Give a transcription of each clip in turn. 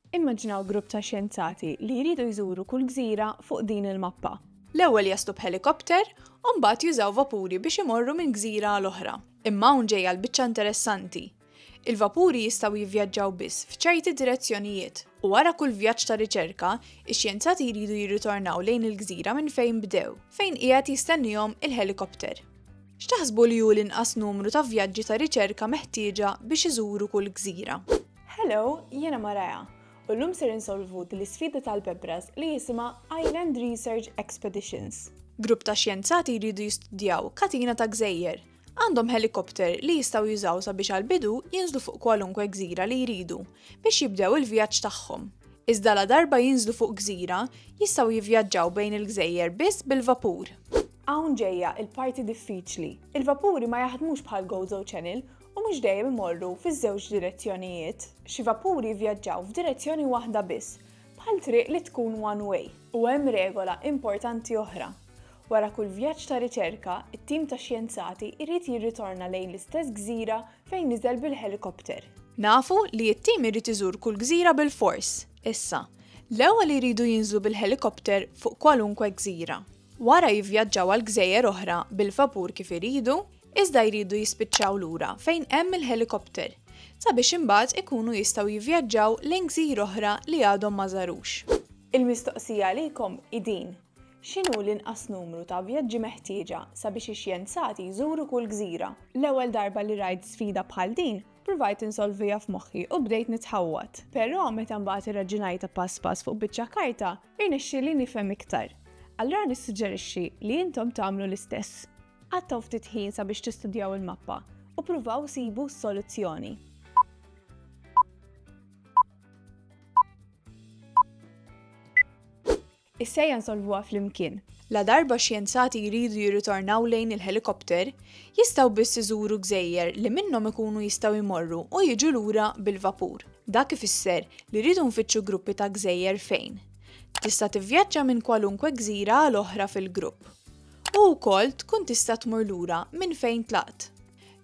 Immaġinaw grupp ta' xjenzati li jridu jżuru kull gżira fuq din il-mappa. L-ewwel jaslu b'ħelikopter u mbagħad jużaw vapuri biex imorru minn gżira għal oħra. Imma hawn ġejja l-biċċa interessanti. Il-vapuri jistgħu jivvjaġġaw biss f'ċerti direzzjonijiet u wara kull vjaġġ ta' riċerka, ix-xjenzati jridu jirritornaw lejn il-gżira minn fejn bdew, fejn qiegħed jistennihom il-ħelikopter. X'taħsbu li hu l-inqas numru ta' vjaġġi ta' riċerka meħtieġa biex iżuru kull gżira? Hello, jiena Mariah, u llum ser insolvu din l-isfida tal-bebras li jisimha Island Research Expeditions. Grupp ta' xjenzati jridu jistudjaw katina ta' gżejjer. Għandhom ħelikopter li jistgħu jużaw sabiex għall-bidu jinżlu fuq kwalunkwe gżira li jridu biex jibdew il-vjaġġ tagħhom. Iżda ladarba jinżlu fuq gżira, jistgħu jivvjaġġaw bejn il-gżejjer biss bil-vapur. Hawn ġejja l-parti diffiċli. Il-vapuri ma jaħdmux bħal Gozo Channel u mhux dejjem imorru fiż-żewġ direzzjonijiet. Xi vapuri jivvjaġġaw f'direzzjoni waħda biss, bħal triq li tkun one way. U hemm regola importanti oħra. Wara kull vjaġġ ta' riċerka, it-tim ta' xjenzati jrid jirritorna lejn l-istess gżira fejn niżel bil-ħelikopter. Nafu li t-tim irid iżur kull gżira bilfors. Issa, l-ewwel iridu jinżlu bil-ħelikopter fuq kwalunkwe gżira. Wara jivvjaġġaw għal gżejjer oħra bil-vapur kif iridu, iżda jridu jispiċċaw lura fejn hemm il-ħelikopter sabiex imbagħad ikunu jistgħu jivvjaġġaw lejn gżir oħra li għadhom ma żarux. Il-mistoqsija għalikom hi din, x'inhu l-inqas numru ta' vjaġġi meħtieġa sabiex ix-xjenzati jżuru kull gżira? L-ewwel darba li rajt sfida bħal din, ppruvajt insolviha f'moħħi u bdejt nitħawwad. Però meta mbagħad irraġunajtha pass pass fuq biċċa karta, irnexxieli nifhem iktar. Allura nissuġġerixxi li intom tagħmlu l-istess. Qattgħu ftit ħin sabiex tistudjaw il-mappa u pruvaw sibu soluzzjoni. Is-sejja nsolvuha flimkien. La darba xjenzati jridu jirritornaw lejn il-helikopter, jistgħu biss iżuru gżejjer li minnhom ikunu jistgħu jmorru u jiġu lura bil-vapur. Dak ifisser li rridu nfittxu gruppi ta' gżejjer fejn. Tista' tivvjaġġa minn kwalunkwe gżira għal oħra fil-grupp. u wkoll tkun tista' tmur lura minn fejn tlaqt.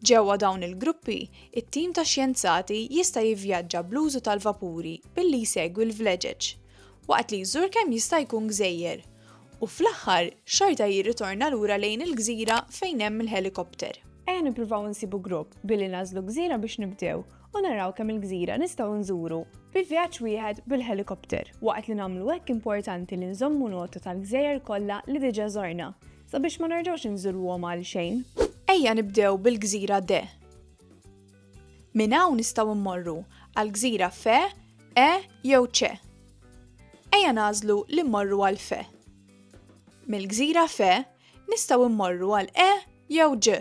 Ġewwa dawn il-gruppi, it-tim ta' xjenzati jista' jivvjaġġa bl-użu tal-vapuri billi jsegwi l-vleġeġ, waqt li jżur kemm jista' jkun gżejjer, u fl-aħħar xorta jirritorna lura lejn il-gżira fejn hemm il-ħelikopter. Ejja nippruvaw insibu grupp billi nagħżlu gżira biex nibdew u naraw kemm il-gżira nistgħu nżuru bi vjaġġ wieħed bil-ħelikopter. Waqt li nagħmlu hekk importanti li nżommu nota tal-gżejjer kollha li diġà żorna sabiex ma nerġgħux inżuruhom għalxejn. Ejja nibdew bil-gżira D. Minn hawn nistgħu mmorru għall-gżira F, E jew C. Ejja nagħżlu li mmorru għal F. Mill-gżira F nistgħu mmorru għal E jew G.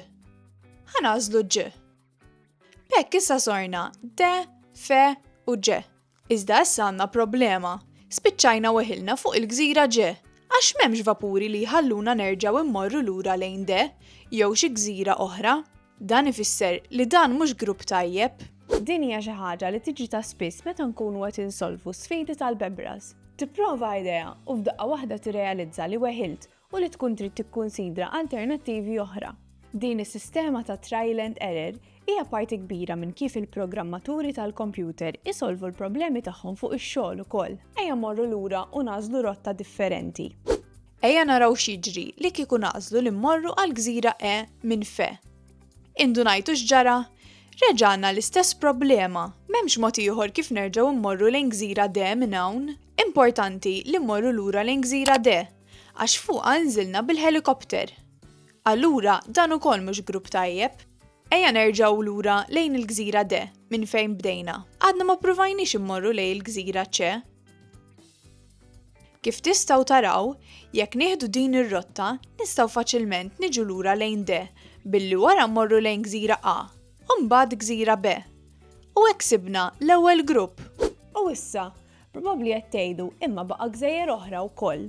Ħa nagħżlu G. B'hekk issa sorna de, fe u ġe. Iżda issa għandna problema. Spiċċajna weħilna fuq il-gżira ġe, għax m'hemmx vapuri li jħalluna nerġgħu mmorru lura lejn de jew xi gżira oħra. Dan ifisser li dan mhux grupp tajjeb. Din hija xi ħaġa li tiġri ta' spiss meta nkunu qed insolvu sfidi tal-bebras. Tipprova idea u f'daqqa waħda tirrealizza li weħilt u li tkun trid tikkunsidra alternattivi oħra. Din is-sistema ta' trial and error hija parti kbira minn kif il-programmaturi tal-kompjuter isolvu l-problemi tagħhom fuq ix-xogħol ukoll. Ejja mmorru lura u nagħżlu rotta differenti. Ejja naraw x'jiġri li kieku nagħżlu li mmorru għall-gżira E minn Fe. Indunajtu x'ġara? Reġa' għandna l-istess problema, m'hemmx mod ieħor kif nerġgħu mmorru lejn gżira D minn hawn. Importanti li mmorru lura lejn gżira D, Għax fuqha nżilna bil-ħelikopter. Allura dan ukoll mhux grupp tajjeb. Ejja nerġgħu lura lejn il-gżira D minn fejn bdejna. Għadna ma ppruvajniex immorru lejn il-gżira C. Kif tistgħu taraw, jekk nieħdu din ir-rotta, nistgħu faċilment niġu lura lejn D billi wara mmorru lejn gżira A, u mbagħad gżira B. U hekk sibna l-ewwel grupp! U issa, Probabbli qed tgħidu, imma baqa' gżejjer oħra wkoll.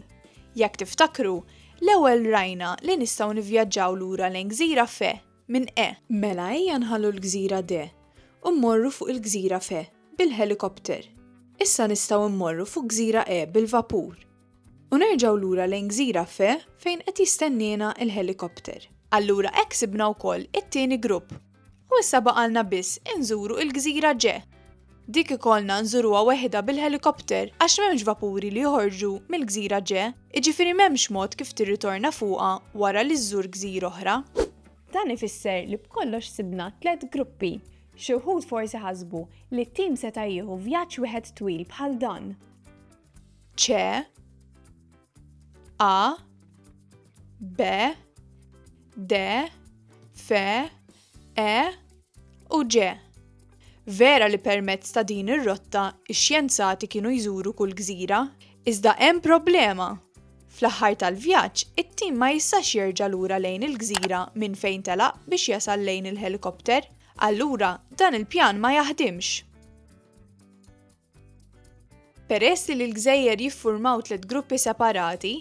Jekk tiftakru, l-ewwel rajna li nistgħu nivvjaġġaw lura lejn gżira Fe minn E. Mela ejja nħallu l-gżira D u mmorru fuq il-gżira Fe bil-ħelikopter. Issa nistgħu mmorru fuq gżira E bil-vapur. U nerġgħu lura lejn gżira Fe fejn qed jistenniena l-ħelikopter. Allura hekk sibna wkoll it-tieni grupp. U issa baqalna biss inżuru il-gżira ġe. Dik ikollna nżuruha weħidha bil-ħelikopter għax m'hemmx vapuri li joħorġu mill-gżira ġe, jiġifieri m'hemmx mod kif tirritorna fuqha wara li żżur gżira oħra. Dan ifisser li b'kollox sibna tliet gruppi. Xi wħud forsi ħasbu li t-tim seta' jieħu vjaġġ wieħed twil bħal dan. Ċe. A, B, D, F, E u G. Vera li permezz ta' din ir-rotta x-xjenzati kienu jżuru kull gżira, iżda hemm problema! Fl-aħħar tal-vjaġġ, it-tim ma jistax jerġa' lura lejn il-gżira minn fejn telaq biex jasal lejn il-ħelikopter. Allura, dan il-pjan ma jaħdimx! Peress li l-gżejjer jiffurmaw tliet gruppi separati,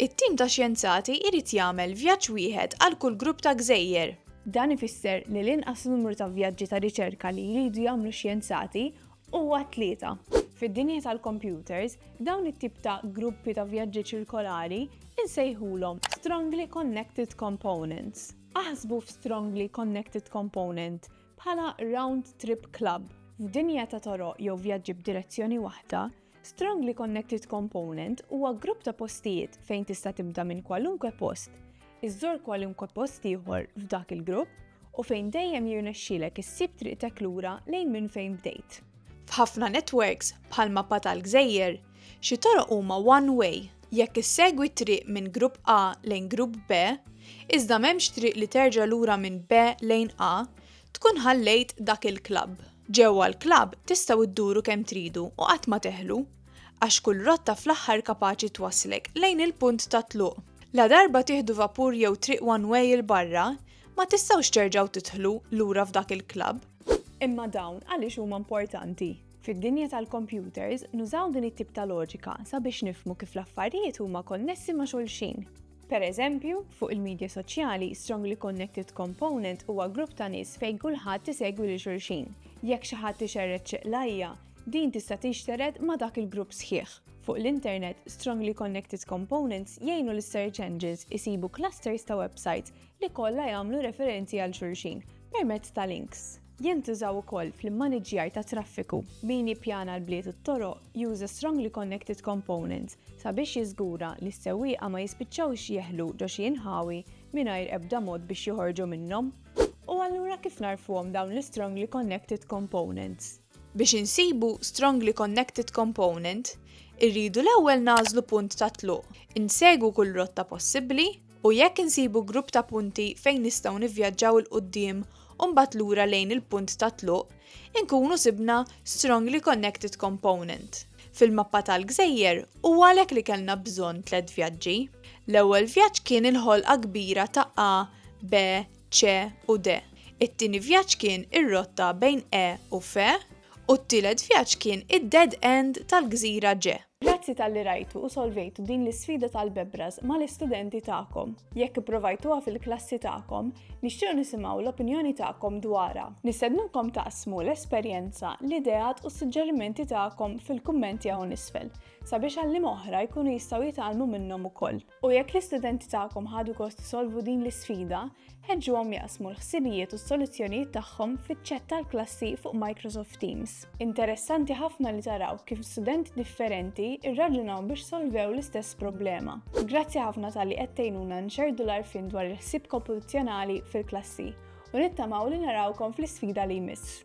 it-tim ta' xjenzati jrid jagħmel vjaġġ wieħed għal kull grupp ta' gżejjer. Dan ifisser li l-inqas numru ta' vjaġġi ta' riċerka li jridu jagħmlu x-xjenzati huwa tlieta. Fid-dinja tal-kompjuters, dawn it-tip ta' gruppi ta' vjaġġi ċirkolari nsejħulhom strongly connected components. Aħsbu f'strongly connected component Bħala round trip club, f'dinja ta' toroq jew vjaġġi b'direzzjoni waħda, Strongly Connected Component huwa grupp ta' postijiet fejn tista' tibda minn kwalunkwe post, iżżor kwalunkwe post ieħor f'dak il-grupp u fejn dejjem jirnexxilek issib triqtek lura lejn minn fejn bdejt. F'ħafna networks, bħal mappa tal-gżejjer, Xi toroq huma one way jekk issegwi t-triq minn grupp A lejn grupp B, iżda m'hemmx triq li terġa' lura minn B lejn A, tkun ħallejt dak il-klabb. Ġewwa l-klabb tistgħu dduru kemm tridu u qatt ma teħlu, għax kull rotta fl-aħħar kapaċi twasslek lejn il-punt tat-tluq. Ladarba tieħdu vapur jew triq one way 'il barra, ma tistgħux terġgħu tidħlu lura f'dak il-klabb. Imma dawn għaliex huma importanti? Fid-dinja tal-kompjuters, nużaw din it-tip ta' loġika sabiex nifhmu kif l-affarijiet huma konnessi ma' xulxin. Per eżempju, fuq il-midja soċjali, strongly connected component huwa grupp ta' nies fejn kulħadd isegwi lil xulxin. Jekk xi ħadd ixerred xi qlajja, din tista' tinxtered ma' dak il-grupp sħiħ. Fuq l-internet, strongly connected components jgħinu lis-search engines isibu clusters ta' websites li kollha jagħmlu referenzi għal xulxin permezz ta' links. Jintużaw ukoll fl-immaniġġjar tat-traffiku. Min jippjana l-bliet u t-toroq juża strongly connected components sabiex jiżgura li s-sewwieqa ma jispiċċawx jeħlu ġo xi inħawi mingħajr ebda mod biex joħorġu minnhom. U allura kif nagħrfuhom dawn l-strongly connected components? Biex insibu strongly connected component, irridu l-ewwel nagħżlu punt tat-tluq, insegwu kull rotta possibbli, u jekk insibu grupp ta' punti fejn nistgħu nivvjaġġaw 'il quddiem u mbagħad lura lejn il-punt tat-tluq, inkunu sibna strongly connected component fil-mappa tal-gżejjer u għalhekk li kellna bżonn tliet vjaġġi. L-ewwel vjaġġ kien il-ħolqa kbira ta' A, B, C u D. It-tieni vjaġġ kien ir-rotta bejn E u F u t-tielet vjaġġ kien id-dead end tal-gżira G. Grazzi talli rajtu u solvejtu din l-isfida tal-bebras mal-istudenti tagħkom. Jekk ipprovajtuha fil-klassi tagħkom, nixtiequ nisimgħu l-opinjoni tagħkom dwarha. Nistednukom taqsmu l-esperjenza, l-ideat u s-suġġerimenti tagħkom fil-kummenti hawn isfel, sabiex għalliema oħra jkunu jistgħu jitgħallmu minnhom ukoll. U jekk l-istudenti tagħkom ħadu gost isolvu din l-isfida, ħeġġuhom jaqsmu l-ħsibijiet u s-soluzzjonijiet tagħhom fiċ-ċett tal-klassi fuq Microsoft Teams. Interessanti ħafna li taraw kif studenti differenti rraġunaw biex solvew l-istess problema. Grazzi ħafna tal-li qed tgħinuna nxerdu l-arfin dwar il-ħsieb kompetizzjonali fil-klassi u nittamaw li narawkom fl-isfida li jmiss.